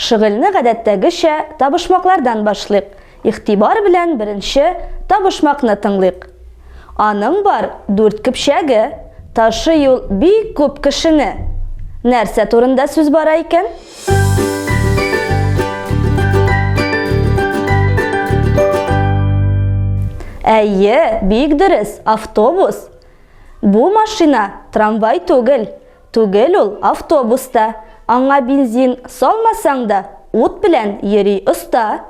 Шөгыльне гадәттәгечә табышмаклардан башлыйк. Игътибар белән беренче табышмакны тыңлыйк. Аның бар дүрт көпчәге, ташый ул бик күп кешене. Нәрсә турында сүз бара икән? Әйе, бик дөрес, автобус. Бу машина трамвай түгел. Түгел ул автобус та. Аңа бензин салмасаң да, ут белән йөри оста.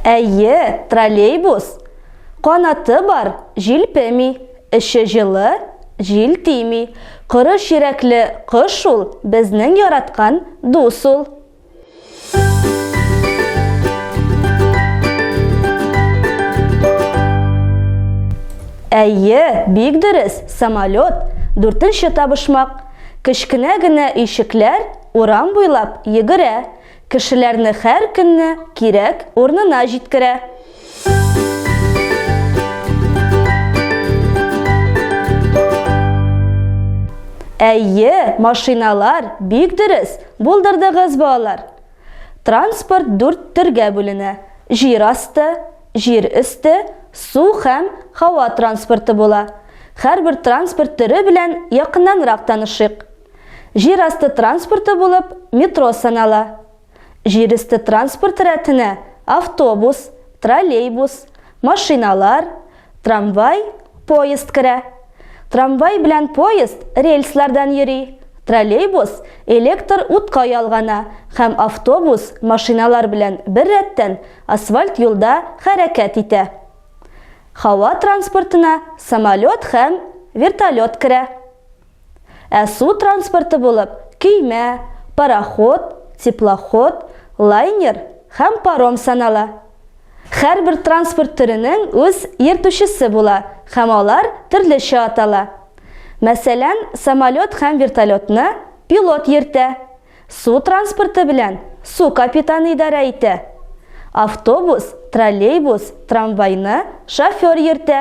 Әйе, троллейбус. Канаты бар, җилпеми. Эче җылы, җил тими. Коры чирәкле кош ул, безнең яраткан дус ул. Әйе, бик дөрес, самолет, дүртенче табышмак. Кечкенә генә өйшекләр урам буйлап йөгерә, кешеләрне һәр көнне кирәк урынына җиткерә. Әйе, машиналар, бик дөрес, булдырдыгыз балалар. Транспорт дүрт төргә бүленә. Җир асты, җир өсте, су һәм һава транспорты була. Һәрбер транспорт төре белән якыннанрак танышыйк. Җир асты транспорты булып метро санала. Җирөсте транспорты рәтенә автобус, троллейбус, машиналар, трамвай, поезд керә. Трамвай белән поезд рельслардан йөри, троллейбус электр утка ялгана һәм автобус машиналар белән бер рәттән асфальт юлда хәрәкәт итә. Һава транспортына самолет һәм вертолет керә. Ә су транспорты булып көймә, пароход, теплоход, лайнер һәм паром санала. Һәрбер транспорт төренең үз йөртүчесе була һәм алар төрлечә атала. Мәсәлән, самолет һәм вертолетны пилот йөртә, су транспорты белән су капитаны идарә итә. Автобус, троллейбус, трамвайны шофер йөртә.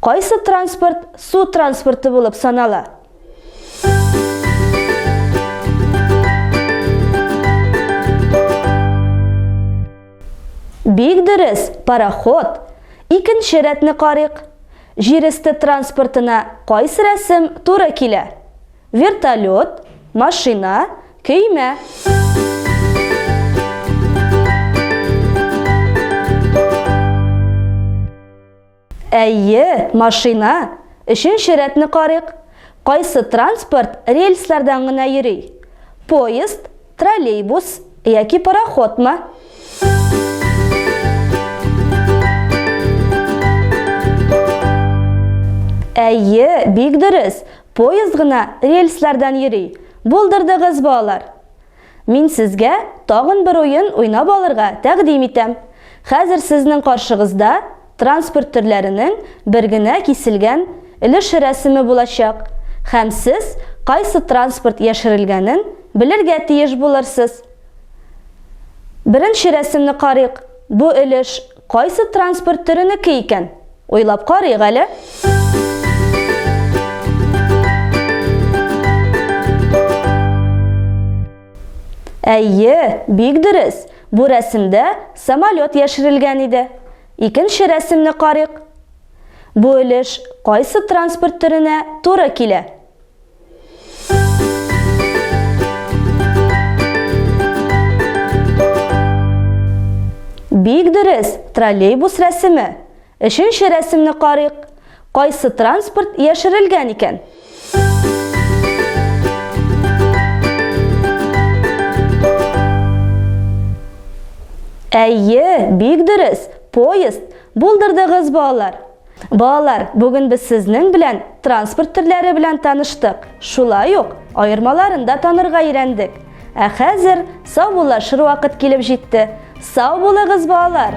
Кайсы транспорт су транспорты булып санала? Бик дөрес, пароход. Икенче рәтне карыйк. Җир өсте транспортына кайсы рәсем туры килә? Вертолет, машина, көймә. Әйе, машина. Өченче рәтне карыйк. Кайсы транспорт рельслардан гына йөри? Поезд, троллейбус яки пароходмы? Әйе, бик дөрес. Поезд гына рельслардан йөри. Булдырдыгыз, балалар! Мин сезгә тагын бер уен уйнап алырга тәкъдим итәм. Хәзер сезнең каршыгызда транспорт төрләренең бер генә киселгән өлеше рәсеме булачак, һәм сез кайсы транспорт яшерелгәнен белергә тиеш булырсыз. Беренче рәсемне карыйк. Бу өлеш Кайсы транспорт төренеке икән? Уйлап карыйк әле. Әйе, бик дөрес. Бу рәсемдә самолет яшерелгән иде. Икенче рәсемне карыйк. Бу өлеш кайсы транспорт төренә туры килә? Бик дөрес, троллейбус рәсеме. Өченче рәсемне карыйк. Кайсы транспорт яшерелгән икән? Әйе, бик дөрес, поезд. Булдырдыгыз балалар. Балалар, бүген без сезнең белән транспорт төрләре белән таныштык. Шулай ук аермаларын да танырга өйрәндек. Ә хәзер саубуллашыр вакыт килеп җитте. Сау булыгыз, балалар!